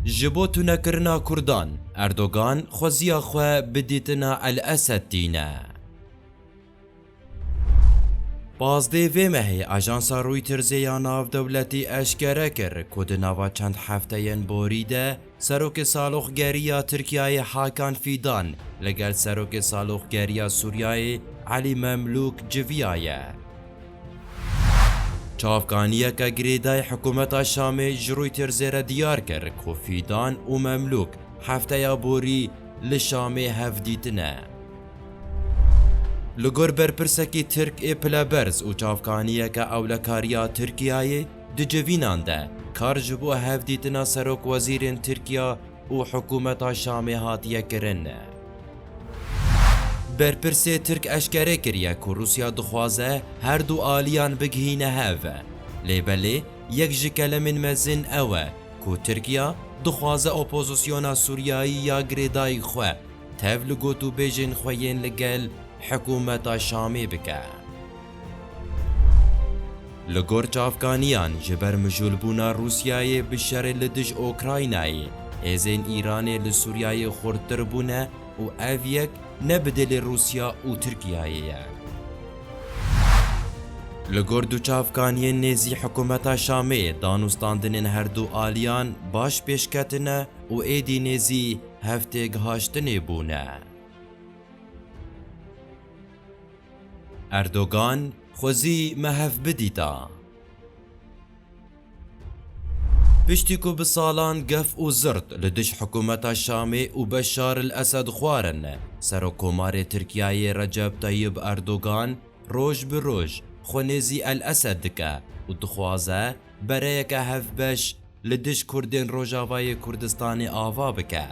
Ji bo tunekirina Kurdan, Erdogan xweziya xwe bi dîtina El-Esed tîne. Pazdeh vê mehê ajansa Reutersê ya navdewletî eşkere kir ku di nava çend hefteyên borî de, Serokê Saloqgeriya Tirkiyeyê Hakan Fîdan li gel Serokê Saloqgeriya Sûriyeyê Elî Memlûk civiyaye. Çavkaniyeke girêdayî hikûmeta Şamê ji Reuters re diyar kir ku Fîdan û Memlûk hefteya borî li Şamê hevdîtine. Li gor berpirsekî Tirk ê pileberz û çavkaniyeke ewlekariya Tirkiyeyê, Di civînan de kar ji bo hevdîtina serokwezîrên Tirkiya û hikûmeta Şamê hatiye kirin. Berpirsê Tirk eşkere kiriye ku Rûsya dixwaze her du aliyan bigihîne hev. Lê belê yek ji kelemên mezin ew e ku Tirkiya dixwaze opozisyona Sûriyayî ya girêdayî xwe tev li gotûbêjên xwe yên li gel hikûmeta Şamê bike. Li gor çavkaniyan ji ber mijûlbûna Rûsyayê bi şerê li dij Ûkraynayê, hêzên Îranê li Sûriyayê xurttir bûne û ev yek ne bi dilê Rûsya û Tirkiyayê ye. Li gor du çavkaniyên nêzî hikûmeta Şamê danûstandinên her du aliyan baş pêşketine û êdî nêzî hev têgihaştinê bûne. Erdogan xwezî me hev bidîta. Piştî ku bi salan gef û zirt li dij hikûmeta Şamê û Beşar el Esed xwarin, Serokkomarê Tirkiyeyê Recep Tayyib Erdogan roj bi roj xwe nêzî El Esed dike û dixwaze bereyeke hevbeş li dij Kurdên Rojavayê Kurdistanê ava bike.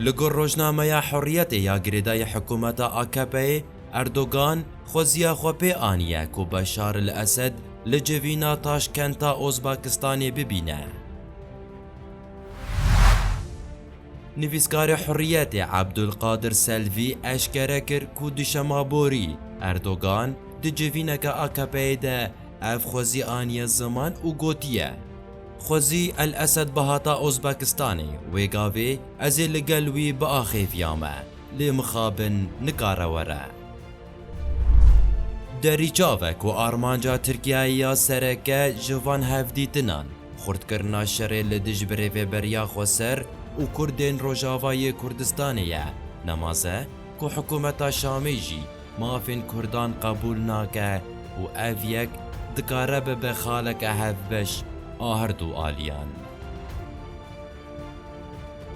Li gor rojnameya Hurriyetê ya girêdayî hikûmeta AKP'ê, Erdogan xweziya xwe pê aniye ku Beşar el Esed li civîna Taşkenta Ozbekistanê bibîne. Nivîskarê Hurriyetê Abdulkadir Selvî eşkere kir ku di şema borî Erdogan di civîneke AKP'ê de ev xwezî aniye ziman û gotiye, Xwezî El Esed bihata Ozbekistanê, wê gavê ez ê li gel wî biaxêviya me, lê mixabin nikare were. Derî çav e ku armanca Tirkiyeyê ya sereke ji van hevdîtinan, Xurtkirina şerê li dij bi Rêveberiya Xweser û Kurdên Rojavayê Kurdistanê ye, ne maze ku hikûmeta Şamê jî mafên Kurdan qebûl nake û ev yek dikare bibe xaleke hevbeş a her du aliyan.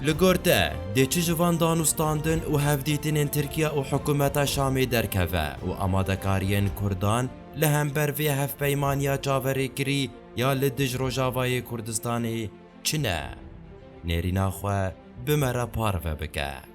Li gor te, dê çi ji van danûstandin û hevdîtinên Tirkiye û hikûmeta Şamê derkeve û amadekariyên Kurdan li hember vê hevpeymaniya çaverêkirî ya li dij Rojavayê Kurdistanê çi ne, nêrîna xwe bi me re parve bike.